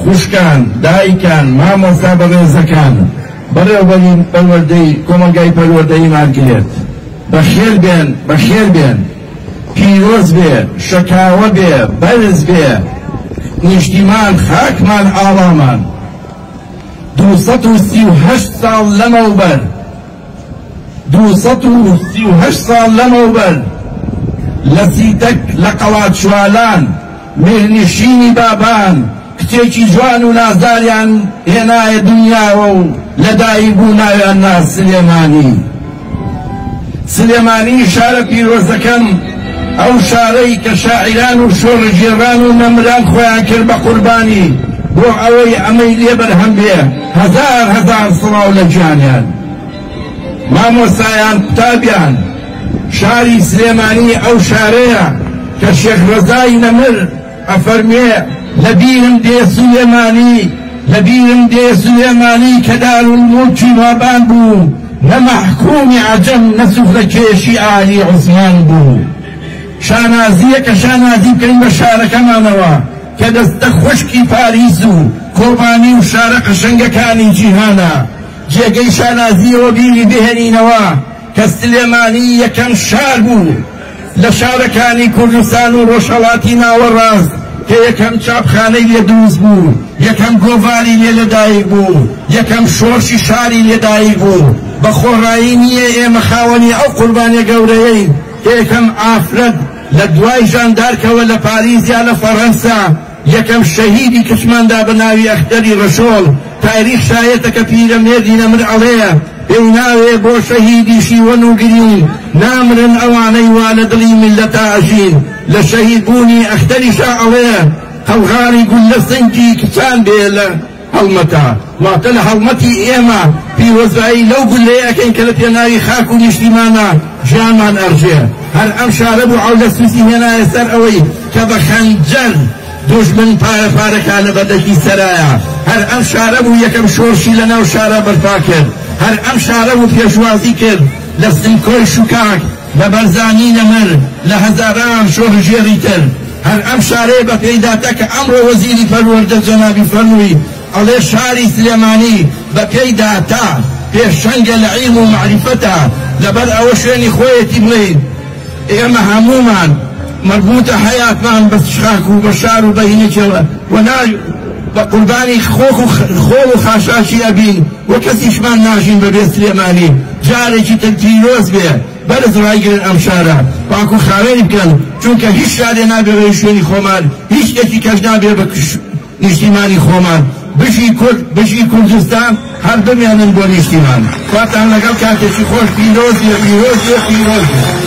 خوشکان، دایکان، مامۆستا بەڕێزەکان، بەڕێوبەری پەروەردەی کۆمەڵگای پەروەردەییمان گلێت. بەخێر بێن، بەخێر بێن. پیرۆز بێ، شەکاوە بێ، بەرز بێ نیشتیمان، خاکمان، ئاڵامان. دوو سەد و سی و هەشت ساڵ لەمەوبەر، دوو سەد و سی و هەشت ساڵ لەمەوبەر لە سیتەک لە قەڵادچوالان، میرنشینی بابان کچێکی جوان و نازداریان هێنایە دونیاوە و لە دایک بوو ناویان نا سلێمانی. سلێمانی شارە پیرۆزەکەم، ئەو شارەی کە شاعیران و شۆڕشگێڕان و نەمران خۆیان کرد بە قوربانی بۆ ئەوەی ئەمەی لێ بەرهەم بێ، هەزار هەزار سڵاو لە گیانیان. مامۆستایان قوتابیان شاری سلێمانی ئەو شارەیە کە شێخ ڕەزای نەمر ئەفەرموێ لە بیرم دێ سولێمانی لە بیرم دێ سولێمانی کە دارولموڵکی بابان بوو نە مەحکومی عەجەم نە سوفرەکێشی ئالی عوسمان بوو شانازییەکە شانازی بکەین بە شارەکەمانەوە کە دەستە خوشکی پاریس و کۆبانی و شارە قەشەنگەکانی جیهانە. جێگەی شانازییەوە بیری بهێنینەوە کە سلێمانی یەکەم شار بوو لە شارەکانی کوردستان و ڕۆژهەڵاتی ناوەڕاست کە یەکەم چاپخانەی لێ دروست بوو، یەکەم گۆڤاری لێ لەدایک بوو، یەکەم شۆرشی شاری لێ دایک بوو. بە خۆڕایی نییە ئێمە خاوەنی ئەو قوربانیە گەورەیەین کە یەکەم ئافرەت لە دوای ژاندارکەوە لە پاریس یا لە فەڕەنسا، یەکەم شەهیدی کچمان دا بە ناوی ئەختەری رەشۆڵ، تاریخ شایەتە کە پیرەمێردی نەمر ئەڵێ پێی ناوێ بۆ شەهیدی شیوەن و گرین نامرن ئەوانەی وا لە دڵی میللەتا ئەژین لە شەهید بوونی ئەختەریشا ئەڵێ قەڵغانی گوللە سنگی کچان بێ لە هەڵمەتە، واتە لە هەڵمەتی ئێمە پیرۆزبایی لەو گوللەیە ئەکەین کە لە پێناوی خاک و نیشتیماندا ژیانمان ئەڕژێ. هەر ئەم شارە بوو عەولە سوسی هێنایە سەر ئەوەی کە بە خەنجەر دوژمن پارە پارەکا لە بەردەکی سەرایە. هەر ئەم شارە بوو یەکەم شۆڕشی لە ناو شارا بەرپا کرد. هەر ئەم شارە بوو پێشوازی کرد لە سمکۆی شوکاک، لە بەرزانی نەمر، لە هەزاران شۆڕشگێڕی تر. هەر ئەم شارەیە بە پێیداتە کە ئەمڕۆ وەزیری پەروەردە جەنابی فەرمووی ئەڵێ شاری سلێمانی بە پێی داتا پێشەنگە لە عیلم و مەعریفەتا لەبەر ئەوە شوێنی خۆیەتی بڵێین ئێمە هەموومان مەربووتە حەیاتمان بە خاک و بە شار و بەینەکێڵە و نا بە قوربانی خۆک و خۆڵ و خاشاکی ئەبین و کەسیشمان ناژین بەبێ سلێمانی جارێکی تر پیرۆز بێ بەرز ڕایگرن ئەم شارە پاک و خاوێنی بکەن چونکە هیچ شارێ نابێ بەوی شوێنی خۆمان هیچ شتێکی کەش نابێ بە نیشتیمانی خۆمان بژی کورد بژی کوردستان هەر بمێنن بۆ نیشتیمان خواتان لەگەڵ کاتێکی خۆش پیرۆز بێ پیرۆز بێ پیرۆز بێ.